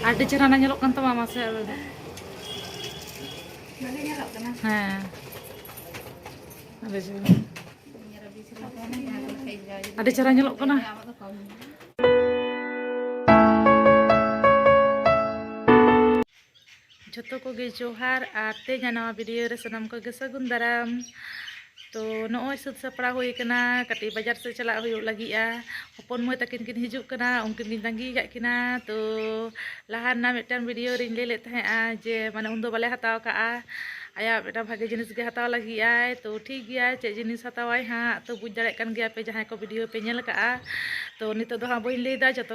ᱟᱹᱰᱤ ᱪᱮᱦᱨᱟ ᱱᱟ ᱧᱮᱞᱚᱜ ᱠᱟᱱ ᱛᱟᱢᱟ ᱢᱟᱥᱮ ᱟᱫᱚ ᱦᱮᱸ ᱟᱹᱰᱤ ᱪᱮᱦᱨᱟ ᱟᱹᱰᱤ ᱪᱮᱦᱨᱟ ᱧᱮᱞᱚᱜ ᱠᱟᱱᱟ ᱡᱷᱚᱛᱚ ᱠᱚᱜᱮ ᱡᱚᱦᱟᱨ ᱟᱨ ᱛᱮᱦᱮᱧᱟᱜ ᱱᱟᱣᱟ ᱵᱷᱤᱰᱤᱭᱳ ᱨᱮ ᱥᱟᱱᱟᱢ ᱠᱚᱜᱮ ᱥᱟᱹᱜᱩᱱ ᱫᱟᱨᱟᱢ ᱛᱚ ᱱᱚᱜᱼᱚᱭ ᱥᱟᱹᱛ ᱥᱟᱯᱲᱟᱣ ᱦᱩᱭ ᱠᱟᱱᱟ ᱠᱟᱹᱴᱤᱡ ᱵᱟᱡᱟᱨ ᱥᱮᱫ ᱪᱟᱞᱟᱜ ᱦᱩᱭᱩᱜ ᱞᱟᱹᱜᱤᱫᱼᱟ ᱦᱚᱯᱚᱱ ᱢᱟᱹᱭ ᱛᱟᱹᱠᱤᱱ ᱠᱤᱱ ᱦᱤᱡᱩᱜ ᱠᱟᱱᱟ ᱩᱱᱠᱤᱱ ᱞᱤᱧ ᱛᱟᱺᱜᱤ ᱠᱟᱜ ᱠᱤᱱᱟ ᱛᱚ ᱞᱟᱦᱟ ᱨᱮᱱᱟᱜ ᱢᱤᱫᱴᱟᱝ ᱵᱷᱤᱰᱤᱭᱳ ᱨᱤᱧ ᱞᱟᱹᱭ ᱞᱮᱫ ᱛᱟᱦᱮᱸᱜᱼᱟ ᱡᱮ ᱢᱟᱱᱮ ᱩᱱᱫᱚ ᱵᱟᱞᱮ ᱦᱟᱛᱟᱣ ᱠᱟᱜᱼᱟ ᱟᱭᱟᱜ ᱢᱤᱫᱴᱟᱝ ᱵᱷᱟᱜᱮ ᱡᱤᱱᱤᱥ ᱜᱮ ᱦᱟᱛᱟᱣ ᱞᱟᱹᱜᱤᱫ ᱟᱭ ᱛᱚ ᱴᱷᱤᱠ ᱜᱮᱭᱟ ᱪᱮᱫ ᱡᱤᱱᱤᱥ ᱦᱟᱛᱟᱣᱟᱭ ᱦᱟᱸᱜ ᱛᱚ ᱵᱩᱡᱽ ᱫᱟᱲᱮᱭᱟᱜ ᱠᱟᱱ ᱜᱮᱭᱟ ᱯᱮ ᱡᱟᱦᱟᱸᱭ ᱠᱚ ᱵᱷᱤᱰᱤᱭᱳ ᱯᱮ ᱧᱮᱞ ᱠᱟᱜᱼᱟ ᱛᱚ ᱱᱤᱛᱚᱜ ᱫᱚ ᱦᱟᱸᱜ ᱵᱟᱹᱧ ᱞᱟᱹᱭᱫᱟ ᱡᱚᱛᱚ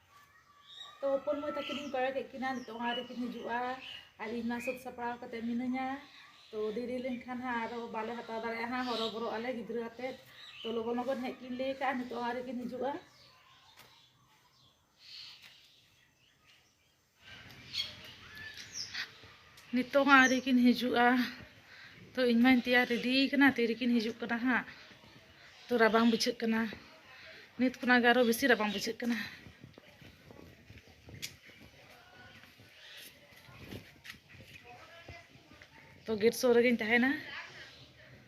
ᱛᱚ ᱦᱚᱯᱚᱱ ᱢᱟᱹᱭ ᱛᱟᱹᱠᱤᱱᱤᱧ ᱠᱚᱭᱚᱜᱮᱫ ᱠᱤᱱᱟ ᱱᱤᱛᱳᱜ ᱦᱚᱸ ᱟᱹᱣᱨᱤ ᱠᱤᱱ ᱦᱤᱡᱩᱜᱼᱟ ᱟᱨ ᱤᱧ ᱢᱟ ᱥᱟᱹᱛ ᱥᱟᱯᱲᱟᱣ ᱠᱟᱛᱮᱫ ᱢᱤᱱᱟᱹᱧᱟ ᱛᱚ ᱫᱮᱨᱤ ᱞᱮᱱᱠᱷᱟᱱ ᱦᱟᱸᱜ ᱟᱨᱚ ᱵᱟᱞᱮ ᱦᱟᱛᱟᱣ ᱫᱟᱲᱮᱭᱟᱜᱼᱟ ᱦᱟᱸᱜ ᱦᱚᱨᱚ ᱵᱚᱨᱚᱜ ᱟᱞᱮ ᱜᱤᱫᱽᱨᱟᱹ ᱟᱛᱮᱫ ᱛᱚ ᱞᱚᱜᱚᱱ ᱞᱚᱜᱚᱱ ᱦᱮᱡ ᱠᱤᱱ ᱞᱟᱹᱭ ᱠᱟᱜᱼᱟ ᱱᱤᱛᱳᱜ ᱦᱚᱸ ᱟᱹᱣᱨᱤ ᱠᱤᱱ ᱦᱤᱡᱩᱜᱼᱟ ᱱᱤᱛᱚᱜ ᱦᱚᱸ ᱟᱹᱣᱨᱤ ᱠᱤᱱ ᱦᱤᱡᱩᱜᱼᱟ ᱛᱚ ᱤᱧ ᱢᱟᱧ ᱛᱮᱭᱟᱨ ᱨᱮᱰᱤ ᱠᱟᱱᱟ ᱛᱤᱨᱮᱠᱤᱱ ᱦᱤᱡᱩᱜ ᱠᱟᱱᱟ ᱦᱟᱸᱜ ᱛᱚ ᱨᱟᱵᱟᱝ ᱵᱩᱡᱷᱟᱹᱜ ᱠᱟᱱᱟ ᱱᱤᱛ ᱠᱷᱚᱱᱟᱜ ᱜᱮ ᱟᱨᱚ ᱵᱮᱥᱤ ᱨᱟᱵᱟᱝ ᱵᱩᱡᱷᱟᱹᱜ ᱠᱟᱱᱟ ᱛᱚ ᱜᱮᱴ ᱥᱩᱨ ᱨᱮᱜᱮᱧ ᱛᱟᱦᱮᱱᱟ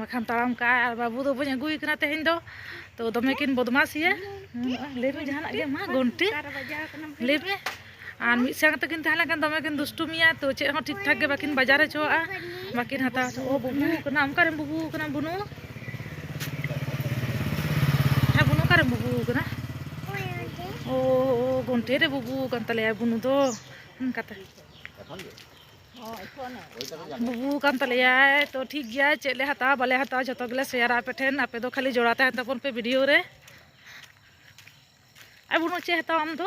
ᱵᱟᱠᱷᱟᱱ ᱛᱟᱲᱟᱢ ᱠᱟᱜᱼᱟ ᱟᱨ ᱵᱟᱹᱵᱩ ᱫᱚ ᱵᱟᱹᱧ ᱟᱹᱜᱩᱭᱮ ᱠᱟᱱᱟ ᱛᱮᱦᱮᱧ ᱫᱚ ᱛᱚ ᱫᱚᱢᱮ ᱠᱤᱱ ᱵᱚᱫᱢᱟᱥᱤᱭᱟ ᱞᱟᱹᱭ ᱢᱮ ᱡᱟᱦᱟᱱᱟᱜ ᱜᱮ ᱢᱟ ᱜᱚᱱᱴᱮ ᱞᱟᱹᱭ ᱢᱮ ᱟᱨ ᱢᱤᱫ ᱥᱟᱝ ᱛᱮᱠᱤᱱ ᱛᱟᱦᱮᱸ ᱞᱮᱱᱠᱷᱟᱱ ᱫᱚᱢᱮ ᱠᱤᱱ ᱫᱩᱥᱴᱩᱢᱤᱭᱟ ᱛᱚ ᱪᱮᱫ ᱦᱚᱸ ᱴᱷᱤᱠ ᱴᱷᱟᱠ ᱜᱮ ᱵᱟᱹᱠᱤᱱ ᱵᱟᱡᱟᱨ ᱦᱚᱪᱚᱣᱟᱜᱼᱟ ᱵᱟᱹᱠᱤᱱ ᱦᱟᱛᱟᱣ ᱦᱚᱪᱚᱣᱟᱜᱼᱟ ᱚ ᱵᱩᱵᱩ ᱠᱟᱱᱟ ᱚᱱᱠᱟᱨᱮᱢ ᱵᱩᱵᱩ ᱠᱟᱱᱟ ᱵᱩᱱᱩ ᱦᱮᱸ ᱵᱩᱱᱩ ᱚᱠᱟᱨᱮᱢ ᱵᱩᱵᱩ ᱠᱟᱱᱟ ᱚ ᱜᱚᱱᱴᱮ ᱨᱮ ᱵᱩᱵᱩ ᱠᱟᱱ ᱛᱟᱞᱮᱭᱟ ᱵᱩᱱᱩ ᱫᱚ ᱚᱱᱠᱟᱛᱮ ᱵᱩᱵᱩ ᱠᱟᱱ ᱛᱟᱞᱮᱭᱟᱭ ᱛᱚ ᱴᱷᱤᱠ ᱜᱮᱭᱟ ᱪᱮᱫ ᱞᱮ ᱦᱟᱛᱟᱣᱟ ᱵᱟᱞᱮ ᱦᱟᱛᱟᱣᱟ ᱡᱚᱛᱚ ᱜᱮᱞᱮ ᱥᱮᱭᱟᱨᱟ ᱟᱯᱮ ᱴᱷᱮᱱ ᱟᱯᱮ ᱫᱚ ᱠᱷᱟᱹᱞᱤ ᱡᱚᱲᱟ ᱛᱟᱦᱮᱱ ᱛᱟᱵᱚᱱ ᱯᱮ ᱵᱷᱤᱰᱤᱭᱳ ᱨᱮ ᱟᱨ ᱵᱩᱱᱩ ᱪᱮᱫ ᱦᱟᱛᱟᱣᱟ ᱟᱢ ᱫᱚ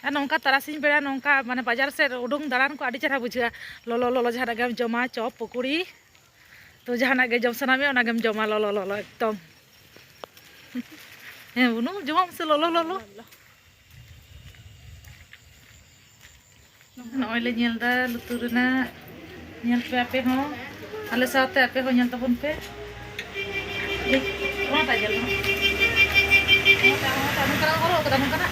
ᱟᱨ ᱱᱚᱝᱠᱟ ᱛᱟᱨᱟᱥᱤᱧ ᱵᱮᱲᱟ ᱱᱚᱝᱠᱟ ᱢᱟᱱᱮ ᱵᱟᱡᱟᱨ ᱥᱮᱫ ᱩᱰᱩᱝ ᱫᱟᱬᱟᱱ ᱠᱚ ᱟᱹᱰᱤ ᱪᱮᱦᱨᱟ ᱵᱩᱡᱷᱟᱹᱜᱼᱟ ᱞᱚᱞᱚ ᱞᱚᱞᱚ ᱡᱟᱦᱟᱱᱟᱜ ᱜᱮᱢ ᱡᱚᱢᱟ ᱪᱚᱯ ᱯᱚᱠᱳᱲᱤ ᱛᱚ ᱡᱟᱦᱟᱱᱟᱜ ᱜᱮ ᱡᱚᱢ ᱥᱟᱱᱟ ᱢᱮᱭᱟ ᱚᱱᱟᱜᱮᱢ ᱡᱚᱢᱟ ᱞᱚᱞᱚ ᱞᱚᱞᱚ ᱮᱠᱫᱚᱢ ᱦᱮᱸ ᱵᱩᱱᱩ ᱡᱚᱢᱟᱢ ᱥᱮ ᱞᱚᱞᱚ ᱞᱚᱞᱚ ᱱᱚᱜᱼᱚᱭ ᱞᱮ ᱧᱮᱞ ᱮᱫᱟ ᱞᱩᱛᱩᱨ ᱨᱮᱱᱟᱜ ᱧᱮᱞ ᱯᱮ ᱟᱯᱮ ᱦᱚᱸ ᱟᱞᱮ ᱥᱟᱶᱛᱮ ᱟᱯᱮ ᱦᱚᱸ ᱧᱮᱞ ᱛᱟᱵᱚᱱ ᱯᱮ ᱚᱱᱟᱴᱟᱜ ᱧᱮᱞ ᱢᱮ ᱱᱚᱝᱠᱟᱱᱟᱜ ᱦᱚᱨᱚᱜ ᱟᱠᱟᱫᱟ ᱱᱚᱝᱠᱟᱱᱟᱜ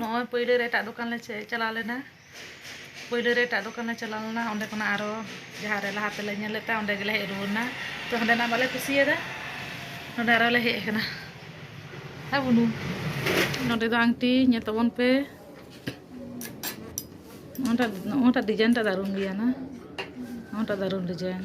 ᱱᱚᱜᱼᱚᱭ ᱯᱳᱭᱞᱳ ᱨᱮ ᱮᱴᱟᱜ ᱫᱚᱠᱟᱱ ᱞᱮ ᱪᱟᱞᱟᱣ ᱞᱮᱱᱟ ᱯᱳᱭᱞᱳ ᱨᱮ ᱮᱴᱟᱜ ᱫᱚᱠᱟᱱ ᱞᱮ ᱪᱟᱞᱟᱣ ᱞᱮᱱᱟ ᱚᱸᱰᱮ ᱠᱷᱚᱱᱟᱜ ᱟᱨᱚ ᱡᱟᱦᱟᱸ ᱨᱮ ᱞᱟᱦᱟ ᱛᱮᱞᱮ ᱧᱮᱞ ᱞᱮᱫ ᱛᱟᱦᱮᱸᱫ ᱚᱸᱰᱮ ᱜᱮᱞᱮ ᱦᱮᱡ ᱨᱩᱣᱟᱹᱲ ᱮᱱᱟ ᱛᱚ ᱚᱸᱰᱮᱱᱟᱜ ᱵᱟᱞᱮ ᱠᱩᱥᱤᱭᱟᱫᱟ ᱱᱚᱸᱰᱮ ᱟᱨᱚ ᱞᱮ ᱦᱮᱡ ᱟᱠᱟᱱᱟ ᱦᱮᱸ ᱵᱩᱱᱩ ᱱᱚᱸᱰᱮ ᱫᱚ ᱟᱝᱴᱤ ᱧᱮᱞ ᱛᱟᱵᱚᱱ ᱯᱮ ᱱᱚᱣᱟᱴᱟᱜ ᱱᱚᱣᱟᱴᱟᱜ ᱰᱤᱡᱟᱭᱤᱱᱴᱟᱜ ᱫᱟᱨᱩᱱ ᱜᱮᱭᱟ ᱱᱟ ᱱᱚᱣᱟᱴᱟᱜ ᱫᱟᱨᱩᱱ ᱰᱤᱡᱟᱭᱤᱱ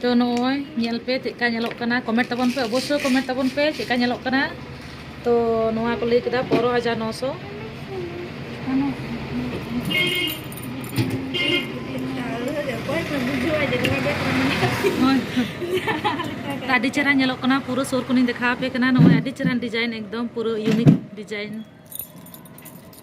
ᱛᱚ ᱱᱚᱜᱼᱚᱭ ᱧᱮᱞ ᱯᱮ ᱪᱮᱫ ᱞᱮᱠᱟ ᱧᱮᱞᱚᱜ ᱠᱟᱱᱟ ᱠᱚᱢᱮᱱᱴ ᱛᱟᱵᱚᱱ ᱯᱮ ᱚᱵᱚᱥᱥᱳᱭ ᱠᱚᱢᱮᱱᱴ ᱛᱟᱵᱚᱱ ᱯᱮ ᱪᱮᱫ ᱞᱮᱠᱟ ᱧᱮᱞᱚᱜ ᱠᱟᱱᱟ ᱛᱚ ᱱᱚᱣᱟ ᱠᱚ ᱞᱟᱹᱭ ᱠᱮᱫᱟ ᱯᱚᱱᱨᱚ ᱦᱟᱡᱟᱨ ᱱᱚᱥᱚ ᱟᱹᱰᱤ ᱪᱮᱦᱨᱟ ᱧᱮᱞᱚᱜ ᱠᱟᱱᱟ ᱯᱩᱨᱟᱹ ᱥᱩᱨ ᱠᱷᱚᱱᱤᱧ ᱫᱮᱠᱷᱟᱣ ᱟᱯᱮ ᱠᱟᱱᱟ ᱱᱚᱜᱼᱚᱭ ᱟᱹᱰᱤ ᱪᱮᱦᱨᱟᱱ ᱰᱤᱡᱟᱭᱤᱱ ᱮᱠᱫᱚᱢ ᱯᱩᱨᱟᱹ ᱤᱭᱩᱱᱤᱠ ᱰᱤᱡᱟᱭᱤᱱ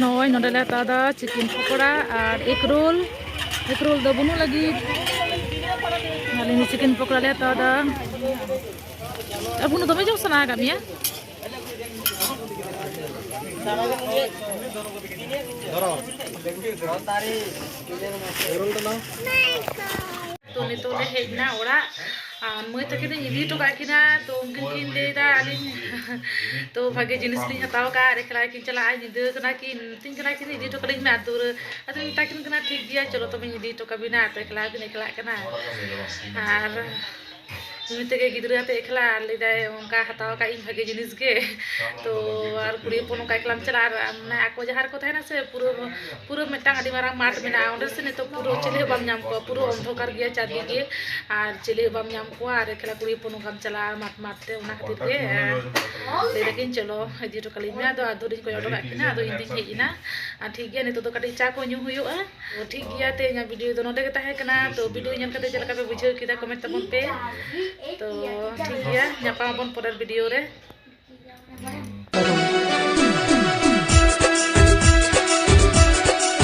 ᱱᱚᱜᱼᱚᱭ ᱱᱚᱰᱮ ᱞᱮ ᱦᱟᱛᱟᱣ ᱮᱫᱟ ᱪᱤᱠᱮᱱ ᱯᱚᱠᱚᱲᱟ ᱟᱨ ᱮᱜᱽ ᱨᱳᱞ ᱮᱜᱽ ᱨᱳᱞ ᱫᱚ ᱵᱟᱹᱱᱩᱜ ᱞᱟᱹᱜᱤᱫ ᱟᱹᱞᱤᱧ ᱪᱤᱠᱮᱱ ᱯᱚᱠᱚᱲᱟ ᱞᱮ ᱦᱟᱛᱟᱣ ᱮᱫᱟ ᱟᱵᱚ ᱫᱚᱢᱮ ᱡᱚᱢ ᱥᱟᱱᱟ ᱟᱠᱟᱫ ᱢᱮᱭᱟ ᱛᱚ ᱱᱤᱛᱚᱜ ᱞᱮ ᱦᱮᱡ ᱮᱱᱟ ᱚᱲᱟᱜ ᱟᱨ ᱢᱟᱹᱭ ᱛᱟᱹᱠᱤᱱ ᱫᱚᱧ ᱤᱫᱤ ᱦᱚᱴᱚ ᱠᱟᱜ ᱠᱤᱱᱟ ᱛᱚ ᱩᱱᱠᱤᱱ ᱠᱤᱱ ᱞᱟᱹᱭᱫᱟ ᱟᱹᱞᱤᱧ ᱛᱚ ᱵᱷᱟᱜᱮ ᱡᱤᱱᱤᱥ ᱞᱤᱧ ᱦᱟᱛᱟᱣ ᱠᱟᱜᱼᱟ ᱟᱨ ᱮᱠᱞᱟ ᱠᱤᱱ ᱪᱟᱞᱟᱜᱼᱟ ᱧᱤᱫᱟᱹ ᱠᱟᱱᱟ ᱠᱤᱱ ᱢᱤᱛᱟᱹᱧ ᱠᱟᱱᱟ ᱠᱤᱱ ᱤᱫᱤ ᱦᱚᱴᱚ ᱠᱟᱹᱞᱤᱧ ᱢᱮ ᱟᱨ ᱫᱩᱣᱟᱹᱨ ᱟᱫᱚᱧ ᱢᱮᱛᱟ ᱠᱤᱱ ᱠᱟᱱᱟ ᱴᱷᱤᱠ ᱜᱮᱭᱟ ᱪᱚᱞᱚ ᱛᱚᱵᱮᱧ ᱤᱫᱤ ᱦᱚᱴᱚ ᱠᱟᱵᱤᱱᱟ ᱛᱚ ᱮᱠᱞᱟ ᱦᱚᱸᱠᱤᱱ ᱮᱠᱞᱟᱜ ᱠᱟᱱᱟ ᱟᱨ ᱱᱩᱭ ᱛᱮᱜᱮ ᱜᱤᱫᱽᱨᱟᱹ ᱟᱛᱮ ᱮᱠᱞᱟ ᱟᱨ ᱞᱟᱹᱭᱫᱟᱭ ᱚᱱᱠᱟ ᱦᱟᱛᱟᱣ ᱟᱠᱟᱫ ᱤᱧ ᱵᱷᱟᱜᱮ ᱡᱤᱱᱤᱥ ᱜᱮ ᱛᱚ ᱟᱨ ᱠᱩᱲᱤ ᱦᱚᱯᱚᱱ ᱚᱱᱠᱟ ᱮᱠᱞᱟᱢ ᱪᱟᱞᱟᱜᱼᱟ ᱟᱨ ᱢᱟᱱᱮ ᱟᱠᱚ ᱡᱟᱦᱟᱸ ᱨᱮᱠᱚ ᱛᱟᱦᱮᱱᱟ ᱥᱮ ᱯᱩᱨᱟᱹ ᱯᱩᱨᱟᱹ ᱢᱤᱫᱴᱟᱝ ᱟᱹᱰᱤ ᱢᱟᱨᱟᱝ ᱢᱟᱴᱷ ᱢᱮᱱᱟᱜᱼᱟ ᱚᱸᱰᱮ ᱥᱮ ᱱᱤᱛᱚᱜ ᱯᱩᱨᱟᱹ ᱪᱤᱞᱤ ᱦᱚᱸ ᱵᱟᱢ ᱧᱟᱢ ᱠᱚᱣᱟ ᱯᱩᱨᱟᱹ ᱚᱱᱫᱷᱚᱠᱟᱨ ᱜᱮᱭᱟ ᱪᱟᱨᱫᱤᱠᱮ ᱟᱨ ᱪᱤᱞᱤ ᱦᱚᱸ ᱵᱟᱢ ᱧᱟᱢ ᱠᱚᱣᱟ ᱟᱨ ᱮᱠᱞᱟ ᱠᱩᱲᱤ ᱦᱚᱯᱚᱱ ᱚᱱᱠᱟᱢ ᱪᱟᱞᱟᱜᱼᱟ ᱢᱟᱴᱷ ᱢᱟᱴᱷ ᱛᱮ ᱚᱱᱟ ᱠᱷᱟᱹᱛᱤᱨ ᱜᱮ ᱞᱟᱹᱭ ᱫᱟᱠᱤᱱ ᱪᱚᱞᱚ ᱤᱫᱤ ᱦᱚᱴᱚ ᱠᱟᱞᱤᱧ ᱢᱮ ᱟᱫᱚ ᱟᱫᱷᱩᱨᱤᱧ ᱠᱚᱭᱚᱜ ᱦᱚᱴᱚ ᱠᱟᱜ ᱠᱤᱱᱟ ᱟᱫᱚ ᱤᱧ ᱫᱩᱧ ᱦᱮᱡ ᱮᱱᱟ ᱟᱨ ᱴᱷᱤᱠ ᱜᱮᱭᱟ ᱱᱤᱛᱚᱜ ᱫᱚ ᱠᱟᱹᱴᱤᱡ ᱪᱟ ᱠᱚ ᱧᱩ ᱦᱩᱭᱩᱜᱼᱟ ᱛᱚ ᱴᱷᱤᱠ ᱜᱮᱭᱟ ᱛᱮ ᱤᱧᱟᱹᱜ ᱵᱷᱤᱰᱤᱭᱳ ᱫᱚ ᱱᱚᱰᱮ ᱜᱮ ᱛᱟᱦᱮᱸ ᱠᱟᱱᱟ ᱛᱚ ᱵᱷᱤᱰᱤᱭᱳ ᱧᱮᱞ ᱠᱟᱛᱮ ᱪᱮᱫ ᱞᱮᱠᱟ ᱯᱮ ᱵᱩᱡᱷᱟᱹᱣ ᱠᱮᱫᱟ ᱠᱚᱢᱮᱱᱴ ᱛᱟᱵᱚᱱ ᱯᱮ ᱛᱚ ᱴᱷᱤᱠ ᱜᱮᱭᱟ ᱧᱟᱯᱟᱢ ᱟᱵᱚᱱ ᱯᱚᱨᱮᱨ ᱵᱷᱤᱰᱤᱭᱳ ᱨᱮ